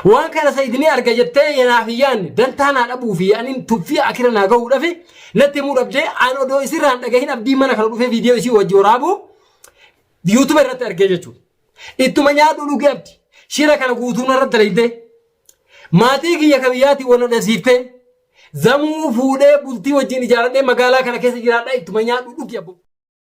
Waan kana Sayid ni arga jettee yanaaf hin yaanne dantaa naa dhabuu fi anin tuffii akira naa gahuu dhafe natti himuu dhabdee an odoo isirraan dhagahin abdii mana kana dhufee viidiyoo isii wajji waraabuu yuutuba irratti argee jechuudha. Ittuma nyaadhu dhugi abdi shira kana guutuu narra dalaydee maatii kiyya ka biyyaatii wal nadhasiiftee zamuu fuudhee bultii wajjin ijaaradhee magaalaa kana keessa jiraadha ittuma nyaadhu dhugi abbo.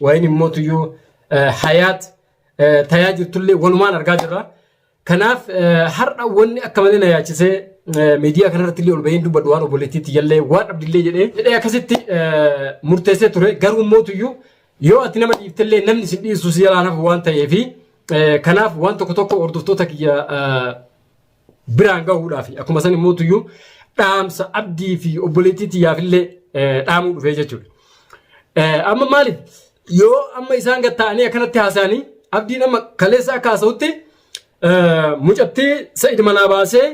Waa'een immoo tuyyuu hayaat tayaa jirtullee walumaan argaa jirra. Kanaaf har'a wanni akka malee na yaachisee miidiyaa kanarratti illee ol baheen dubbadhu waan obboleettiitti jallee waan dhabdillee jedhee jedhee akkasitti murteessee ture garuu immoo tuyyuu yoo ati nama dhiiftellee namni isin dhiisu si jalaan hafu waan ta'eefi kanaaf waan tokko tokko hordoftoota kiyya biraan gahuudhaaf akkuma san immoo tuyyuu dhaamsa abdii fi obboleettii tiyyaaf illee dhaamuu dhufee jechuudha. Amma maali yoo amma isaan gad ta'anii akkanatti haasa'anii abdiin amma kaleessa akka haasa'utti mucattii sa'id manaa baasee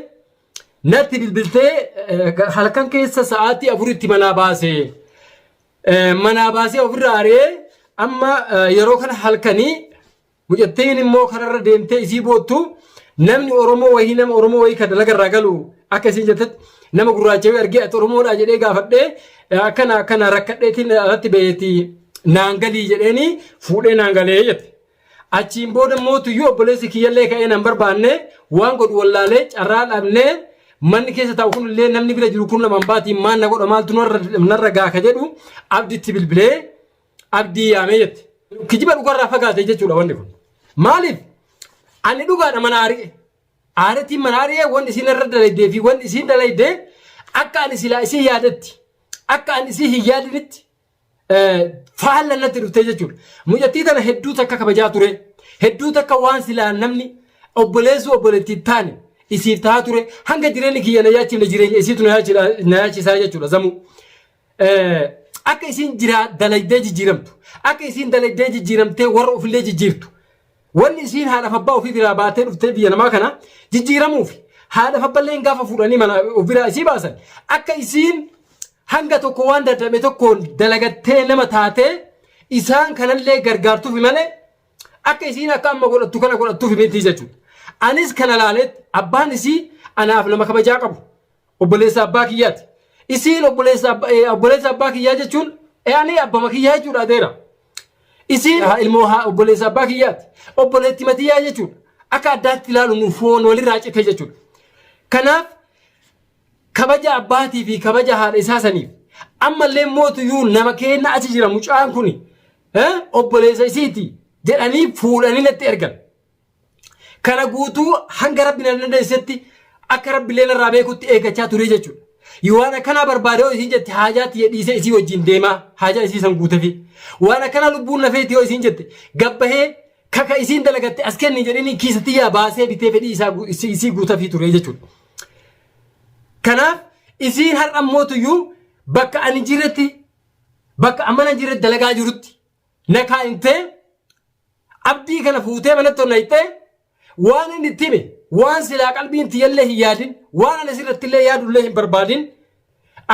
natti bilbiltee halkan keessa sa'aatii afuritti manaa baasee manaa baasee ofirraa ari'ee amma yeroo kana halkanii Mucattiin immoo kararra deemtee isii boottu namni Oromoo wayii nama Oromoo wayii kan dalaga irraa galu akka isiin jettetti nama gurraacha wayii argee ati Oromoodhaa jedhee gaafadhee akkana akkana rakkadheetiin alatti baheeti naan galii jedheeni fuudhee naan galee jette. Achiin booda immoo tuyyuu obboleessi kiyyallee ka'ee nan barbaanne waan godhu wallaalee carraa dhabnee manni keessa taa'u kunillee namni bira jiru kun lamaan baatiin maal na godha maaltu narra gaaka jedhu abditti bilbilee Abdii yaamee jette. Kijiba dhugarraa fagaate jechuudha wanni kun. Maaliif? Ani dhugaadha mana ari'e. Aaritiin mana ari'e wanni isiin irra dalaydee fi wanni isiin dalaydee akka ani silaa isii yaadetti akka ani isii hin yaadinitti faalla natti dhuftee jechuudha. Mucattii tana hedduu takka kabajaa ture. Hedduu takka waan silaa namni obboleessuu obboleettii taane isiif tahaa ture. Hanga jireenyi kiyya na yaachifne jireenya isiitu na yaachisaa jechuudha zamuu. Akka isiin jiraa dalaydee jijjiiramtu, akka isiin dalaydee jijjiiramtee warra ofillee jijjiirtu, wanni isiin haadhaaf abbaa ofii biraa baatee dhuftee biyya namaa kana jijjiiramuufi. Haadhaaf abballeen gaafa fuudhanii mana of biraa isii baasan akka isiin hanga tokko waan dadhabe tokkoon dalagattee nama taatee isaan kanallee gargaartuufi malee akka isiin akka amma godhattu kana godhattuufi miti jechuudha. Anis kana laaleetti abbaan isii anaaf nama kabajaa qabu, Obboleessa abbaa kiyyaati. Isiin obboleessa abba- eh, obboleessa abbaa kiyyaa jechuun yaani abbama kiyyaa jechuudha adeera. Isiin ha- ilmoo ha- obboleessa abbaa kiyyaati. Obboleetti matiyyaa jechuudha. Akka addaatti ilaalu nu foon walirraa cite jechuudha. Kanaaf kabaja abbaatii fi kabaja haadha isaa saniif ammallee mootuyyuu nama keenna achi jira mucaan kuni eh, obboleessa isiiti jedhanii fuudhanii natti ergan. Kana guutuu hanga rabbi na dandeessisetti akka rabbillee narraa beekutti eeggachaa turee jechuudha. Yoo waan akkanaa barbaade yoo isiin jette haajaa tiyya dhiisee isii wajjin deemaa haajaa isii san guutefi. Waan akkanaa lubbuun na feeti yoo isiin jette gabbahee kaka isiin dalagatte as kenni jedhini kiisa tiyyaa baasee bitee fedhii isaa gu- isii isii guutafii turee jechuudha. Kanaaf isiin har'a mootuyyuu bakka ani jirretti bakka ammana jirretti dalagaa jirutti na kaa'intee Abdii kana fuutee manatti ol nayxee waan inni itti hime waan silaa qalbiin tiyyallee hin yaadin waan ana sirrattillee yaadullee hin barbaadin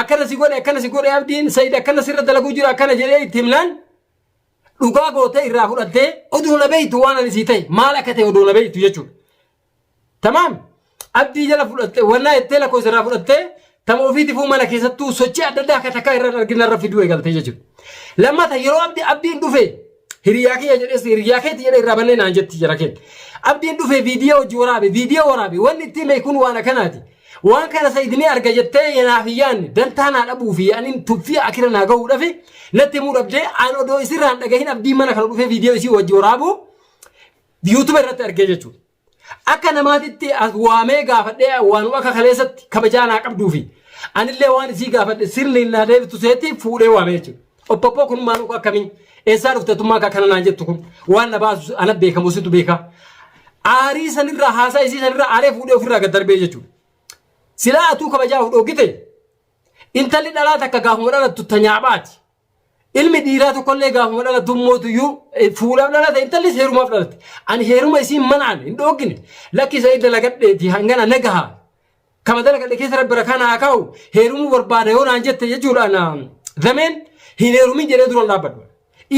akkana si godhe akkana si godhe abdiin sayid akkana sirra dalaguu jira akkana jedhee itti himnaan dhugaa gootee irraa fudhattee oduu na beeytu waan ani sii ta'e maal akka ta'e oduu na beeytu jechuudha. Tamaam abdii jala fudhatte wannaa jettee lakkoofsa irraa fudhattee tama ofiitifuu mana keessattuu sochii adda addaa akka takkaa irra argina irra fiduu eegalte jechuudha. Lammata yeroo abdi abdiin dhufe hiriyaa kiyya jedhes hiriyaa keetti jedhe irraa bannee naan jetti jira keetti. Abdiin dhufe viidiyoo hojii waraabe viidiyoo waraabe wanni ittiin beekuun waan akkanaati. Waan kana sa'idinii arga jettee yanaaf yaanni dantaa naa dhabuu fi yaaniin tuffii akira naa gahuu dhafe natti himuu dhabdee aan odoo isirraan dhagahin abdiin mana kana dhufee viidiyoo isii hojii waraabuu YouTube irratti argee jechuudha. Akka namaatitti as waamee gaafadhee waanuma akka kaleessatti kabajaa naa qabduu fi anillee waan isii gaafadhe sirni naa deebitu seetti fuudhee waamee jechuudha. Oppoppoo kun maal uku akkamii eessaa dhufte tummaa akka kana naan jettu kun waan na baasu ana beekamu situ beeka. Aarii sanirraa haasaa isii sanirraa aaree fuudhee ofirraa gad darbee jechuudha. Silaa atuu kabajaa dhogite intalli dhalaa takka gaafuma dhalattu tanyaabaati. Ilmi dhiiraa tokkollee gaafuma dhalatu mootuyyuu fuudhaaf dhalate intallis heerumaaf dhalate. Ani heeruma isiin manaan hin dhooggine lakki sa'ii dalagadheeti hangana nagaha. Kama dalagadhe keessa rabbi rakaa naa kaahu heerumuu barbaada yoo naan jette jechuudhaan zameen hin heerumin jedhee duran dhaabbadhu.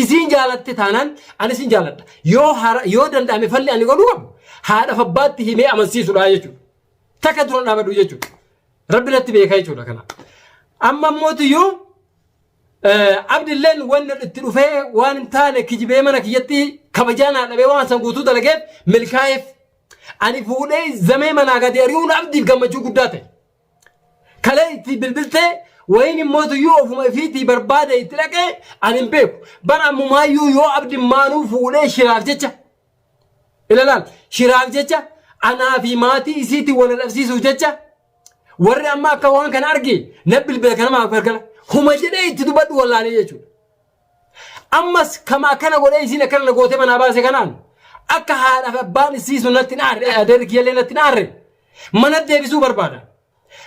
Isiin jaalatte taanaan ani isin jaaladha. Yoo hara yoo danda'ame falli ani godhuu qabu haadhaaf abbaatti himee amansiisudha jechuudha. Takka duran dhaabbadhu jechuudha. Rabbi natti beekaa jechuudha kana. Amma mootuyyuu Abdilleen wanni itti dhufee waan hin taane kijibee mana kiyyatti kabajaa naa dhabee waan san guutuu dalageef milkaa'eef. Ani fuudhee zamee manaa gadi ari'uun abdiif gammachuu guddaa ta'e. Kalee itti bilbiltee wayiin immoo tuyyuu ofuma ifiitii barbaade itti dhaqee ani hin beeku. Bara ammumaayyuu yoo abdi maanuu fuudhee shiraaf jecha. Ilaalaal shiraaf jecha anaa fi maatii isiitti wal dhabsiisuuf jecha Warri amma akka waan kana arge na bilbila kana maaf gargala. Huma jedhee itti dubbadhu wallaalee jechuudha. Ammas kama akkana godhee isiin akkana na gootee manaa baase kanaan akka haadhaaf abbaan isii sun natti hin aarre adeerri kiyyallee natti hin aarre mana deebisuu barbaada.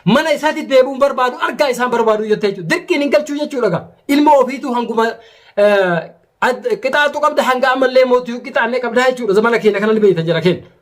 Mana isaatti deebi'uun barbaadu argaa isaan barbaadu jettee jechuudha. Dirqiin hin galchuu jechuudha gaa. Ilma ofiitu hanguma eh, ad- qixaaxuu qabda hanga ammallee mootii qixaannee qabda jechuudha. Zamana keenya kana ni beekta jara keenya.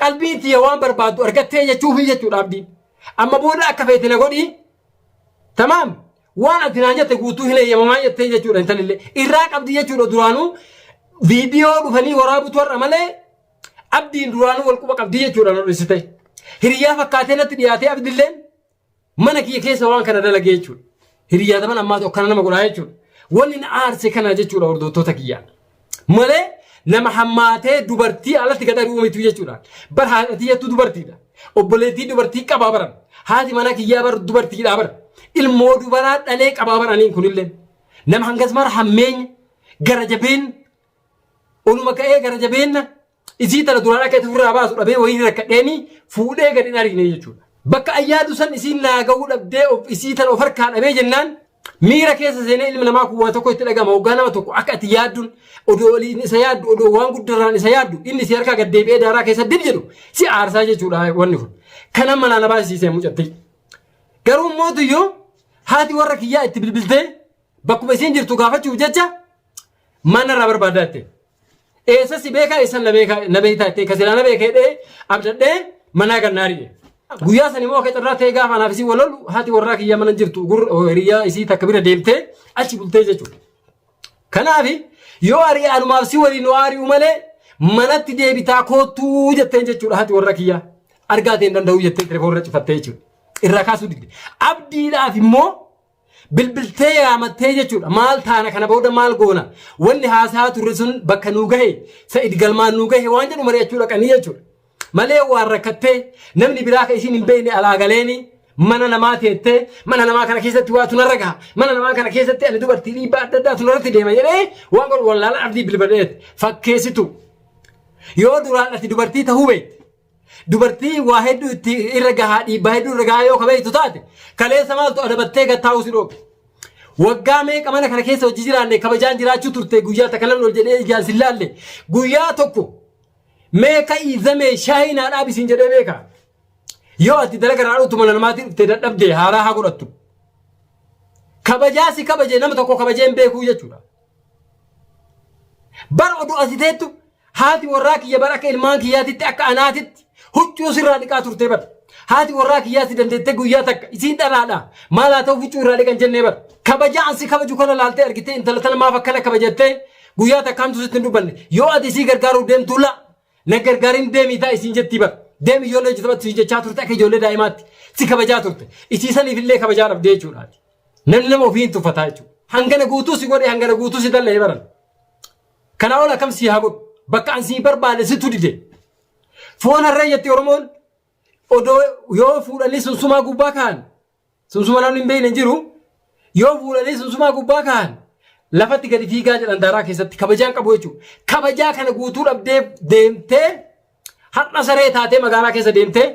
Qalbiin tiyya waan barbaaddu argattee jechuufi jechuudha abdiin. Amma booda akka feete na godhii. Tamaam waan ati naan jette guutuu hin eeyyamamaa jettee jechuudha intalillee. Irraa qabdi jechuudha duraanuu viidiyoo dhufanii waraabutu har'a malee abdiin duraanuu wal quba qabdi jechuudha na dhorrisite. Hiriyaa fakkaatee natti dhiyaatee abdilleen Mana kiyya keessa waan kana dalagee jechuudha. Hiriyyaa taman ammaatu akkana nama godhaa jechuudha. Wanni na aarse kana jechuudha hordoftoota kiyyaa. Malee nama hammaatee dubartii alatti gad ari'uu mitu jechuudha. Bar haadha tiyyattu dubartiidha. Obboleettii dubartii qabaa baran. Haati manaa kiyyaa bar dubartiidha bar. Ilmoo dubaraa dhalee qabaa bar aniin kunillee. Nama hangas mara hammeenya gara jabeenna. Oluma ka'ee gara jabeenna Isii tana duraan akka itti ofirraa baasu dhabee wayii rakkadheeni fuudhee gad hin ariine jechuudha. Bakka an yaadu san isiin naa gahuu dhabdee of isii tana of harkaa dhabee jennaan miira keessa seenee ilmi namaa kun waa tokko itti dhagama hoggaa nama tokko akka ati yaadduun odoo oliin isa yaaddu odoo waan guddarraan isa yaaddu inni si harkaa gad deebi'ee daaraa keessa dib jedhu si aarsaa jechuudha wanni kun. Kana manaa na baasisiisee mucatti. Garuu mootu yoo haati warra kiyyaa itti bilbiltee bakkuma isiin jirtu gaafachuuf jecha Maal narraa barbaaddaa jettee? Eessa si beekaa eessa na beekaa na beektaa jettee ka silaa na beekee dhee abdadhee manaa gannaarii jedhe. Guyyaa san immoo akka carraa ta'ee gaafa anaaf isii wal lolu haati warraa kiyyaa mana hin jirtu gur- hiriyyaa isii takka bira deemtee achi bultee jechuudha. Kanaaf yoo ari'e anumaaf si waliin waa ari'u malee manatti deebitaa koottuu jetteen jechuudha haati warra kiyyaa. Argaa ta'e hin danda'u jettee telefoonirra cifattee jechuudha. Irraa kaasuu didde. Abdiidhaaf immoo Bilbiltee yaamattee jechuudha. Maal taana kana booda maal goona? Wanni haasaa turre sun bakka nuu gahe, Sa'id galmaan nuu gahe waan jedhu mari'achuu dhaqanii jechuudha. Malee waan rakkattee namni biraa kan isiin hin beekne alaa galeeni mana namaa teettee mana namaa kana keessatti waa tunarra gaha. Mana namaa kana keessatti ani dubartii dhiibbaa adda addaa tunarratti deema jedhee waan godhu wallaalaan abdii bilbileetti. Fakkeessitu. Yoo duraan ati dubartii tahuu beekte Dubartii waa hedduu itti irra gahaa dhiibbaa hedduu irra gahaa yoo kabeeytu taate kaleessa maaltu adabattee gad taa'uu si dhoobe. Waggaa meeqa mana kana keessa hojii jiraanne kabajaan jiraachuu turte guyyaa takka lamni ol jedhee ijaan sin laalle guyyaa tokko mee ka'ii zamee shaayii naa dhaabi sin jedhee beeka. Yoo ati dalaga irraa dhuftu mana namaatii dhufte dadhabde haaraa haa godhattu. Kabajaa si kabaje nama tokko kabajee hin beekuu jechuudha. Bar oduu asi teettu haati warraa kiyya bar akka ilmaan kiyyaatitti akka anaatitti huccuu sirraa dhiqaa turtee bar. Haati warraa kiyyaa si dandeettee guyyaa takka isiin dhalaadha maal haa ta'u huccuu irraa dhiqan jennee bar. Kabajaa ansi kabaju kana laaltee argitee intala tana maaf akkana kabajattee guyyaa takkaantu sitti hin dubbanne yoo ati isii gargaaruu deemtu la Na gargaarin deemii taa'i siin jettii bar. Deemi ijoollee hojjetu battu siin jechaa turte akka ijoollee daa'imaatti si kabajaa turte. Isii saniif illee kabajaa dhabdee jechuudha ati. Namni nama ofii hin tuffataa jechuudha. Hangana guutuu si godhee hangana guutuu si dallee baran. Kanaa ol akkam si haa godhu. Bakka an si barbaade situ dide. Foon harree jetti Oromoon odoo yoo fuudhanii sunsumaa gubbaa ka'an Sunsuma namni hin beekne hin jiru. Yoo fuudhanii sunsumaa gubbaa kaa'an lafatti gadi fiigaa jedhan daaraa keessatti kabajaan qabu jechuudha. Kabajaa kana guutuu dhabdee deemtee har'a saree taatee magaalaa keessa deemtee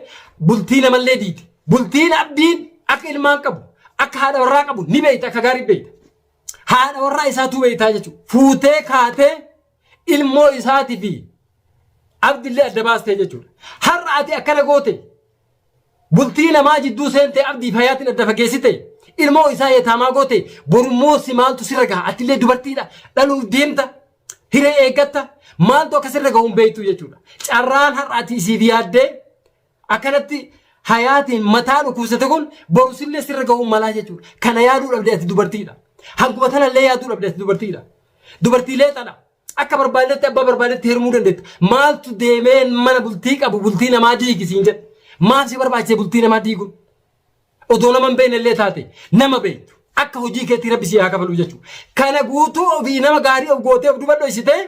bultii namallee diite. Bultiin abdiin akka ilmaan qabu akka haadha warraa qabu ni beekta akka gaarii beekta. Haadha warraa isaatuu beektaa jechuudha. Fuutee kaatee ilmoo isaatii fi abdillee adda baastee jechuudha. Har'a ati akkana goote Bultii namaa jidduu seentee abdiif hayaatin adda fageessite. Ilmoo isaa yetaamaa goote. Borummoo si maaltu sirra gaha? Atillee dubartiidha. Dhaluuf deemta. Hiree eeggatta. Maaltu akka sirra gahu hin beektu jechuudha. Carraan har'a ati isiif yaaddee akkanatti hayaatiin mataa dhukkubsate kun boru sillee sirra gahuu malaa jechuudha. Kana yaaduu dhabde ati dubartiidha. Hanguma tanallee yaaduu dhabde ati dubartiidha. Dubartiilee tana. Akka barbaaddetti abbaa barbaaddetti heerumuu dandeetta. Maaltu deemee mana bultii qabu bultii namaa diigi siin jedhe. Maaf si barbaachise bultii namaa diiguun? Odoo nama hin beekne illee taate nama beektu. Akka hojii keetii rabbi si haa kafaluu jechuudha. Kana guutuu ofii nama gaarii of gootee of duba dhoysitee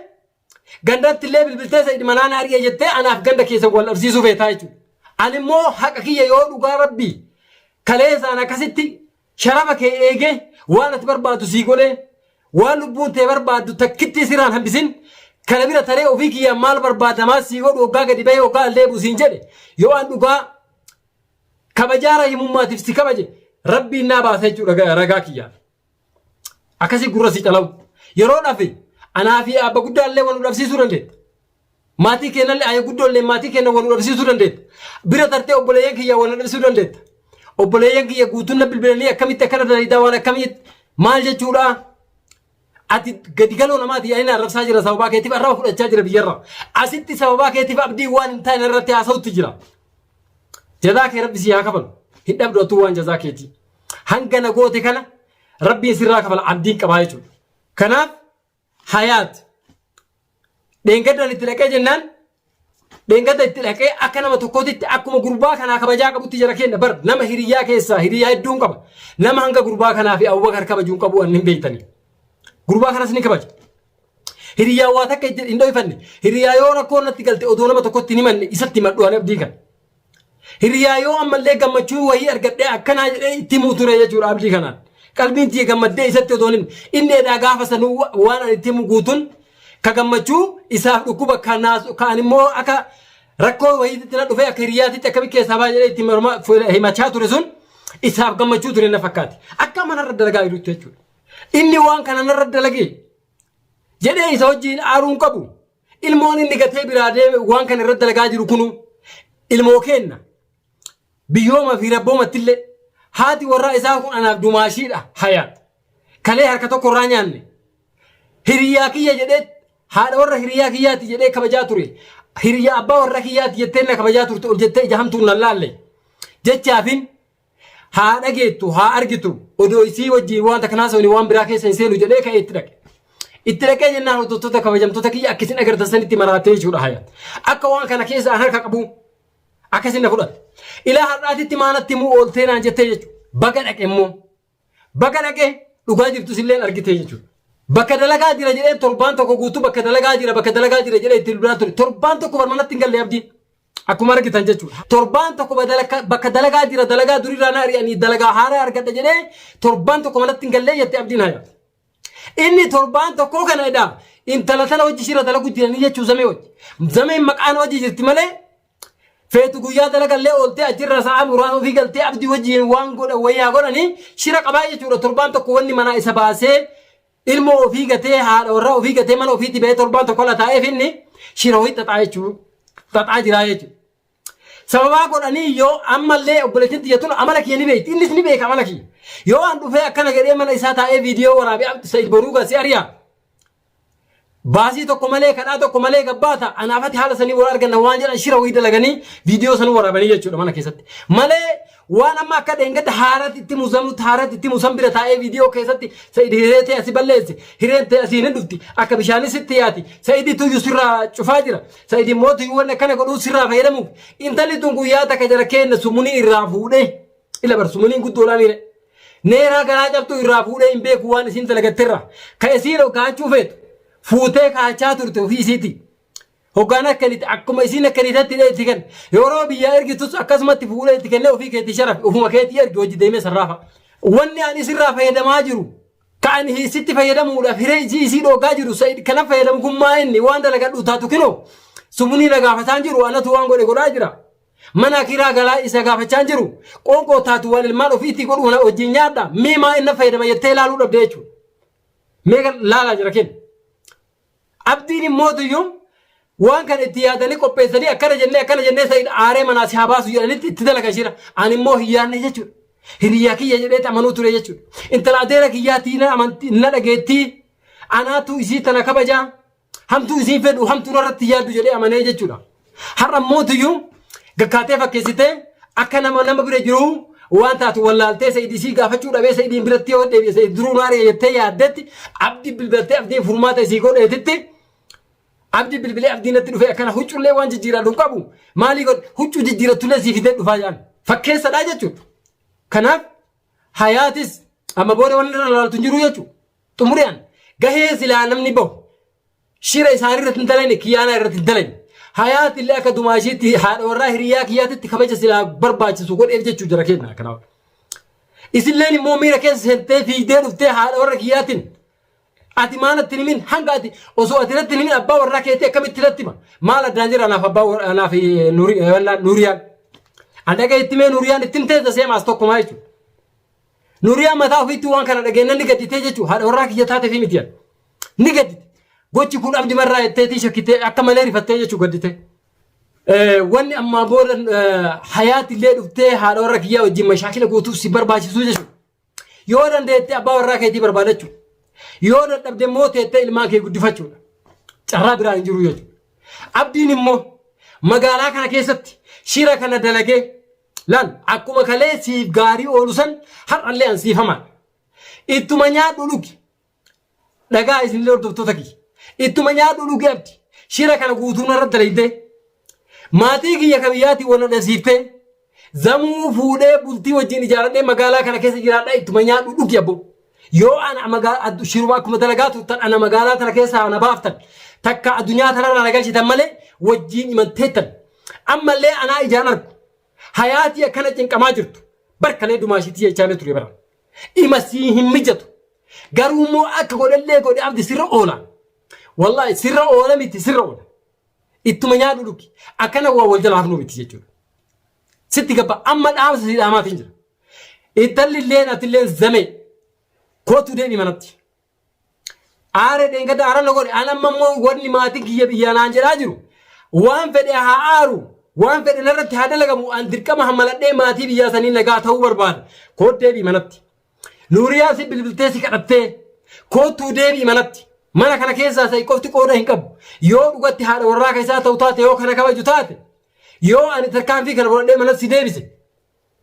gandatti illee bilbiltee sa'id manaa na ari'ee jettee anaaf ganda keessa wal dhabsiisuu feetaa jechuudha. Ani immoo haqa kiyya yoo dhugaa rabbii kaleessaan akkasitti Sharafa kee eegee, waan ati barbaaddu sii godhee, waan lubbuun tee barbaaddu takkittii sirraan hambisin, kana bira taree ofii kiyyaan maal barbaadda maal sii godhu oggaa gadi bahee oggaa al deebi'u siin jedhe, yoo an dhugaa kabajaa rahimummaatiif si kabaje rabbiin naa baasa jechuudha ga- ragaa kiyyaaf. Akkasii gurra si calawu. Yeroo dhafe anaa fi abba guddaallee wal nu dhabsiisuu dandeetta. Maatii keenallee ayee guddoolleen maatii keenya wal nu dhabsiisuu dandeetta. Bira tartee obboleeyyan kiyyaa wal na dhabsiisuu dandeetta. Obboleeyyan kiyya guutuun na bilbilanii akkamitti akkana dalayddaa waan akkamiitti maal jechuudhaa? Ati gadi galoo namaati ani na arrabsaa jira sababaa keetiif arraba fudhachaa jira biyyarra. Asitti sababaa keetiif abdii waan hin taane irratti haasa'utti jira. Jazaa kee rabbi sii haa kafalu. Hin dhabdu atuu waan jazaa keetii. Hanga na goote kana rabbiin sirraa kafala abdiin qabaa jechuudha. Kanaaf Hayaat. Dheengaddan itti dhaqee jennaan dheengadda itti dhaqee akka nama tokkootitti akkuma gurbaa kanaa kabajaa qabutti jara kenna bar nama hiriyyaa keessaa hiriyyaa hedduun qaba nama hanga gurbaa kanaa fi Abubakar kabajuun qabu waan hin beektani gurbaa kanas ni kabaja hiriyyaa waa takka itti hin dhoyfanne hiriyyaa yoo rakkoon natti galte odoo nama tokkotti hin himanne isatti himadhu ani abdii kana Hiriyaa yoo ammallee gammachuu wayii argadhee akkanaa jedhee itti himuu ture jechuudha abdii kanaan. Qalbiin tiyya gammaddee isatti otoon hin inni edaa gaafa sanuu waan ani itti himu guutun ka gammachuu isaaf dhukkuba ka naasu ka ani immoo akka rakkoo wayiititti na dhufee akka hiriyaatitti akkami keessaa baa jedhee itti morma himachaa ture sun isaaf gammachuu ture na fakkaate. Akka manarra dalagaa jirutti jechuudha. Inni waan kana narra dalagee jedhee isa wajjin aaruun qabu. Ilmoon inni gatee biraa deeme waan kana irratti dalagaa jiru kunu ilmoo keenna. Biyyooma fi rabboomattillee haati warraa isaa kun anaaf dumaashiidha hayaat. Kalee harka tokko irraa nyaanne. Hiriyaa kiyya jedhee haadha warra hiriyaa kiyyaati jedhee kabajaa ture. Hiriyaa abbaa warra kiyyaati jettee na kabajaa turte ol jettee ija hamtuun na laalle. Jechaafin Haa dhageettu, haa argitu. Odoo isii wajjin waan takka naasofne waan biraa keessa hin seenu jedhee ka'ee itti dhaqe. Itti dhaqee jennaan hordoftoota kabajamtoota kiyya akka isin agartan sanitti maraattee jechuudha haya. Akka waan kana keessa an harka qabu akkasin na fudhatte. Ilaa har'aatitti maanatti immoo ooltee naan jettee jechuudha. Baga dhaqe immoo. Baga dhaqe dhugaa jirtus illee argitee jechuudha. Bakka dalagaa jira jedhee torbaan tokko guutuu bakka dalagaa jira bakka dalagaa jira jedhee itti duraa ture. Torbaan tokko barmanatti hin galle abdiin. Akkuma argitan jechuudha. Torbaan tokko badalaka- bakka dalagaa jira dalagaa duriirraa na ari'anii dalagaa haaraa argadha jedhee torbaan tokko manatti hin gallee jette abdiin hayaa. Inni torbaan tokkoo kana edaa intala tana hojii ishiirra dalagu jiranii jechuu zamee hojii. Zameen maqaan hojii jirti malee feetu guyyaa dalagallee ooltee achirra sa'a muraasa ofii galtee abdii wajjin waan godha wayyaa godhanii shira qabaa jechuudha torbaan tokko wanni manaa isa baasee Ilmoo ofii gatee haadha warraa ofii gatee mana ofiitti ba'ee torbaan tokko la taa'eef inni shira ho'i xaxaa jechuun xaxaa jiraa jechuudha. Sababaa godhanii yoo ammallee obboleettiin tiyya tun amala kiyya ni beekti innis ni beeka amala kiyya. Yoo an dhufee akkana jedhee mana isaa taa'ee viidiyoo waraabee Abdu Sa'iid boruu gaa si ari'a. Baasii tokko malee kadhaa tokko malee gabbaata anaaf ati haala sanii wal arganna waan jedhan shira wayii dalaganii viidiyoo sanuu waraabanii jechuudha mana keessatti. Malee waan amma akka dheengadda haaraatti itti muzamutti haaraatti itti musan bira taa'ee viidiyoo keessatti sa'id hiree ta'e asi balleesse hireen ta'e asiin hin dhufti akka bishaanis itti yaati sa'idii tuyyu sirraa cufaa jira sa'idii mootu waan akkana godhuu sirraa fayyadamuuf intalli tun guyyaa takka jara keenna sumunii irraa fuudhee. Ila bar sumaniin guddoo laa miire. Neeraa garaa cabtuu irraa fuudhee hin beeku waan isiin dalagatterra. Ka isiin hoggaachuu feetu fuutee kaachaa turte ofii isiiti. Hoggaan akka inni akkuma isiin akka inni tatti itti kenna. Yeroo biyyaa ergitus akkasumatti fuudhee itti kennee ofii keetii sharafe ofuma keetii ergi hojii deemee sarraafa. Wanni ani isirraa fayyadamaa jiru ka ani hiisitti fayyadamuudhaaf hiree ijii isii dhoogaa jiru sa'id kana fayyadamu kun maa inni waan dalagadhu taatu kinoo sumunii na gaafataan jiru anatu waan godhe godhaa jira. Mana kiraa galaa isa gaafachaan jiru qoonqoo taatu waan ilmaan ofiitti godhu kana wajjin nyaadha miimaa inni fayyadama jettee ilaaluu dhabdee jechuudha. Meeqa laalaa jira kenna. Abdiin immoo tuyyuu waan kana itti yaadanii qopheessanii akkana jennee akkana jennee sa'id aaree manaa si haa baasu jedhanitti itti dalaga jira. Ani immoo hin yaadne jechuudha. Hiriyaa kiyya jedhee amanuu ture jechuudha. Intala adeera kiyyaatii na amantii na dhageettii anaatu isii tana kabajaa. Hamtuu isiin fedhu hamtuu narratti yaaddu jedhee amanee jechuudha. Har'a mootiyyuu gakkaatee fakkeessitee akka nama nama bira jiru waan taatu wallaaltee Sa'id isii gaafachuu dhabee Sa'idiin biratti yoo deebi'e Sa'id duruu naaree jettee yaaddetti abdi bilbiltee abdiin furmaata isii godheetitti abdi bilbilee abdiin natti dhufee akkana huccullee waan jijjiiraa hin qabu maalii godhe huccuu jijjiirattullee sii fidee dhufaa jaan fakkeessadhaa jechuudha. Kanaaf hayaatis amma booda wanni irra laaltu hin jiru jechuudha. Xumurian gahee silaa namni bahu shira isaanii irratti hin dalagne kiyyaanaa irratti hin dalagne. Hayaati illee akka dumaashiitti haadha warraa hiriyaa kiyyaatitti kabaja silaa barbaachisu godheef jechuu jira kenna kanaaf. Isilleen immoo miira keessa seentee fiigdee dhuftee haadha warra kiyyaatiin ati maal atti himin hanga ati osoo ati irratti himin abbaa warraa keetii akkamitti irratti hima maal addaan jira anaaf abbaa warraa anaaf eh, Nuuri- eh, wallaa nuuriyaan. An dhagaa itti mee nuuriyaan ittiin teessa seemaas tokkumaa jechuudha. Nuriyaa mataa ofiitti waan kana dhageennan ni gadditee jechuun haadha warraa kiyya taateef miti jedha. Ni gaddite. Gochi kun abdi marraa jetteetii shakkitee akka malee rifattee jechuu gaddite. Wanni ammaa booda hayaati illee dhuftee haadha warra kiyyaa wajjin mashaakila gootuuf si barbaachisuu jechuudha. Yoo dandeette abbaa warraa keetii barbaadachuu. Yoo dadhabde immoo teettee ilmaan kee guddifachuudha. Carraa biraa hin jiru jechuudha. Abdiin immoo magaalaa kana keessatti shira kana dalagee Laal, akkuma kalee siif gaarii oolu san har'allee an siif hamaa. Ittuma nyaadhu dhugi. Dhagaa isinillee hordoftoota kiyya. Ittuma nyaadhu dhugi abdi. Shira kana guutuu narratti dalaydee. Maatii kiyya ka biyyaatiin wal nadhasiiftee. Zamuu fuudhee bultii wajjin ijaaradhee magaalaa kana keessa jiraadhaa ittuma nyaadhu dhugi abbo. Yoo ana magaa- addu- shiruma akkuma dalagaa turtan ana magaalaa tana keessaa ana baaftan takka addunyaa tanarraa na galchitan malee wajjin imalteettan. Ammallee anaa ijaan argu. Hayaatii akkana cinqamaa jirtu. Bar kalee dumaashiitii jechaanee ture bara. Ima sii hin mijatu. Garuu immoo akka godhallee godhe abdi sirra oola. Wallaahi sirra oola miti sirra oola. Ittuma nyaadhu dhugi. Akkana waa wal jala hafnuu miti jechuudha. Sitti gabba amma dhaamsa si dhaamaatiin jira. Ittalli illeen atilleen zamee. Kootu deemi manatti. Aare dheengadda aara na godhe an amma immoo wanni maatii kiyya biyyaa naan jedhaa jiru waan fedhe haa aaru waan fedhe narratti haa dalagamu an dirqama hammaladhee maatii biyyaa sanii nagaa ta'uu barbaada koot deebi'i manatti nuuriyaa si bilbiltee si kadhattee koottuu deebi'i manatti mana kana keessaa sa'i qofti qooda hin qabu yoo dhugatti haadha warraa keessaa ta'u taate yoo kana kabaju taate yoo ani tarkaanfii kana fudhadhee manatti si deebise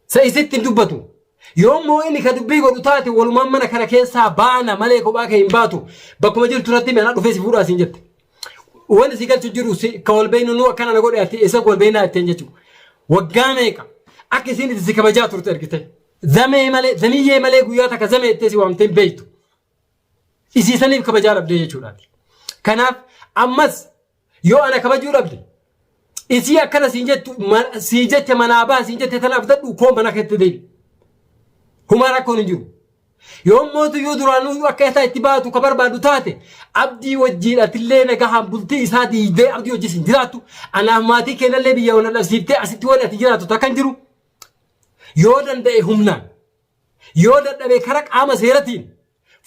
Sa'i sitti hin dubbatu. Yoo immoo inni ka dubbii godhu taate walumaan mana kana keessaa baana malee kophaa kee hin baatu. Bakkuma jirtu irratti mana dhufee si fuudhaa siin jette. Wanti si galchu jiru si ka wal beeknu nu akkana na godhe ati eessa wal beeknaa jetteen jechuudha. Waggaa meeqa akka isiin itti si kabajaa turte ergite. Zamee malee zamiyyee malee guyyaa takka zamee jettee si waamtee hin beektu. Isiisaniif kabajaa dhabdee jechuudha. Kanaaf ammas Yoo ana kabajuu dhabde isii akkana siin jettu ma- sii jette manaa baha siin jette tana abdadhu koo mana keetti deebi. Humaa rakkoon hin jiru. Yoo mootu yoo duraanuu akka isaa itti baatu ka barbaadu taate abdii wajjiin atillee nagahaan bultii isaa diigdee abdii wajjin siin jiraattu anaaf maatii keenyallee biyya wal dhabsiiftee asitti waan ati jiraattu takka hin jiru. Yoo danda'e humnaan yoo dadhabe kara qaama seeratiin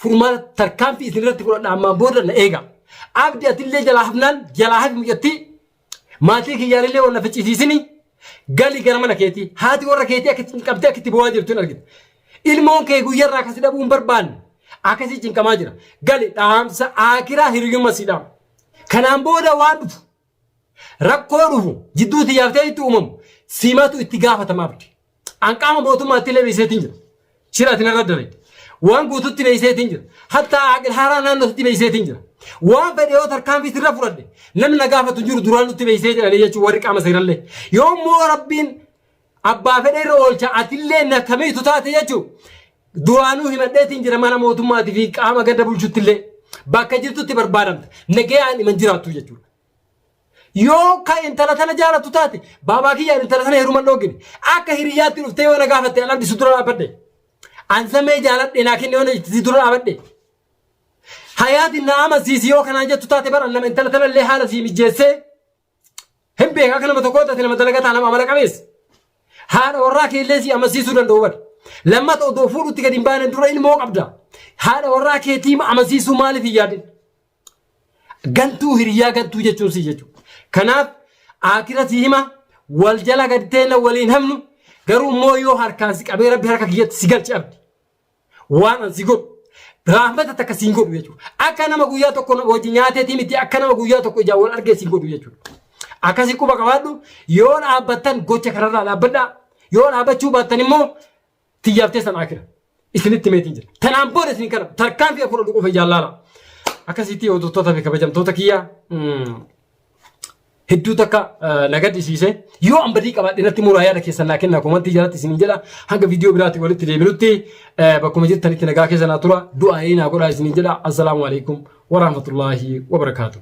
Furmaata tarkaanfii isin irratti godhadha ammaan booda na eega. Abdi atillee jalaa hafnaan jalaa hafi mucattii maatii kiyyaanillee waan na ficcisiisini gali gara mana keetii haati warra keetii akka itti qabdee akka itti boo'aa jirtu hin argita. Ilmoon kee guyyarraa akkasi dhabuu hin barbaanne akkasii cinqamaa jira. Gali dhaamsa aakiraa hiriyyumma siidhaa. Kanaan booda waan dhufu Rakkoo dhufu jidduu tiyyaaf ta'e itti uumamu simatu itti gaafatama abdi. An qaama mootummaatti illee beeseetiin jira. Shira ati narra dalagde. Waan guututti beeseetiin jira. Hatta aqil haaraa naannootti beeseetiin jira. Waan fedhe yoo tarkaanfii sirra fudhadhe namni na gaafatu hin jiru duraan nutti beesee jedhanii jechuun warri qaama seerallee. Yoo immoo rabbiin Abbaa fedhe irra oolcha atillee na kamiitu taate jechu duraanuu himadheetiin jira mana mootummaatii fi qaama ganda bulchuttillee bakka jirtutti barbaadamta nagayaan iman jiraattu jechuudha. Yoo ka intala tana jaalatu taate baabaa kiyyaan intala tana heeruman dhoogine akka hiriyaatti dhuftee yoo na gaafatte an abdisu dura dhaabadhe. An samee jaaladhe naa kenne yoo na itti dura dhaabadhe. Hayaatiin na amansiisi yoo kanaan jettu taate bara nama intala tana illee haala sii mijjeessee Hin beeka akka nama tokkoo taate nama dalagataa nama amala qabeessa. Haadha warraa keellee si amansiisuu danda'u bari. Lammata odoo fuudhutti gadi hin baane dura ilmoo qabda. Haadha warraa keetii amansiisuu maaliif hin yaadin? Gantuu hiriyaa gantuu jechuun si jechuudha. Kanaaf akira si hima wal jala gadi teenya waliin hamnu garuu immoo yoo harkaan si qabee rabbi harka kiyyatti si galchi abdi. Waan an si godhu raahmata takka siin godhu jechuudha. Akka nama guyyaa tokko na- hojii nyaateetii miti akka nama guyyaa tokko ijaan wal argee siin godhu jechuudha. Akkasii quba qabaadhu yoo dhaabbattan gocha kanarraa dhaabbadhaa yoo dhaabbachuu baattan immoo tiyyaaf teessan akira. Isinitti meetiin jira. Tanaan booda isin kana tarkaanfii afur dhufu ijaan laala. Akkasitti hordoftoota fi kabajamtoota kiyyaa. mm, hedduu takka na gaddisiise yoo an badii qabaadhe natti muraa yaada keessan naa kennaa komantii jalatti isiniin jedha hanga viidiyoo biraatti walitti deebinutti bakkuma jirtanitti nagaa keessa naa tura du'aa ee naa godhaa isiniin jedha assalaamu alaikum warahmatullaahi wabarakaatuh.